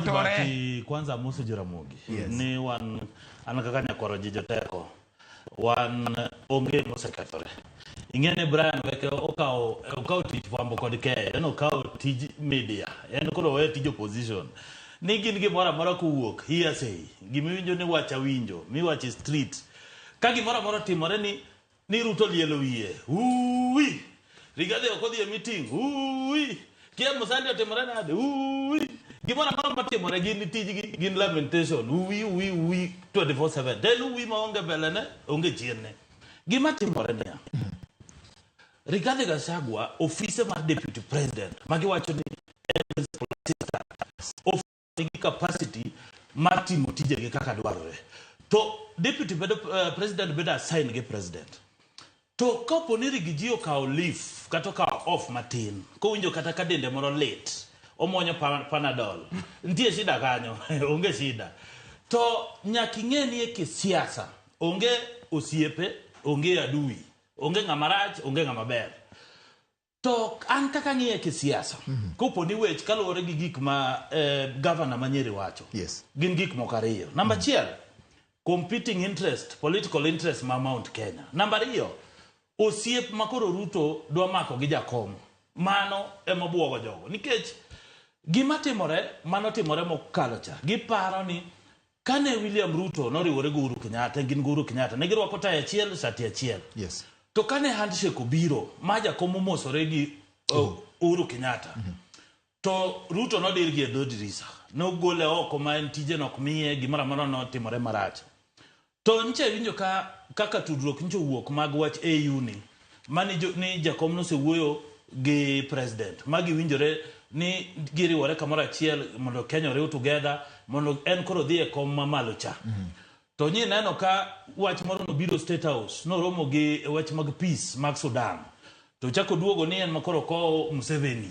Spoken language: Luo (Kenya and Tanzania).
Otore. Bati, kwanza amosi Jaramogi Yes. ni wan an kaka nyakwaro ji joteko wan onge mosekethore ing'e ni Brian Weke okawo okawo tich fwambo kod keyo en okawo tij media en koro owe tij opposition ni gin gimoro amora kowuok hearsay gimiwinjo ni wacha winjo miwache street ka gimoro amora otimore ni Ni Ruto lielo wiye. Uwi. Rigathi ok odhi e meeting. Uwi. Kia Musandi otimore nade. Uwi. Gimoro amoro matimore gin ni tijgi gin lamentation. Uwi uwi uwi 24/7. Del uwi ma onge belene, onge chienne. Gima timore niya. Rigathi Gachagua ofise mar deputy president ma giwacho ni en principal assistant. Of gi capacity mar timo tijegi kaka dwarore to deputy bedo, uh, president bedo assign gi president to kapo ni rigiji okawo leaf kata okawo off matin kowinjo kata ka dende moro lit omwonyo panadol nitie shida kanyo onge shida to nyaka ing'e ni e kisiasa onge osiepe onge adui onge ng'ama rach onge ng'ama ber To an kaka ang'iye kisiasa, kopo ni wech kaluwore gi gik ma eh, gavana ma Nyeri wacho, Yes. gin gik moko ariyo. Namba achiel, competing interest, political interest ma Mount Kenya. Namba ariyo, osiep ma koro Ruto dwa mako gi jakom. Mano ema bwogo jogo. Nikech gima timore, mano timore mokalo cha. Giparo ni Kane William Ruto noriwore gi Uhuru Kenyatta, gin gi Uhuru Kenyatta, ne girwako tai achiel, sati achiel. Yes. To kane handshake obiro, ma jakom omosore gi uh, Uhuru Kenyatta, to Ruto nodir gi e dho dirisa. Nogole oko ma en tije nok miye, gimoro amora notimore marach. To nyicha iwinjo ka kaka tudruok nyicha owuok mag wach AU ni, mani jo, ni jakom nosewuoyo gi president ma giwinjore ni giriwore kamoro achiel mondo Kenya oriw together mondo en koro dhi e kom mamalo cha mm. to nyi neno ka wach moro nobiro State House noromo gi e wach mag peace mag Sudan to chako duogo ni en makoro kowo Museveni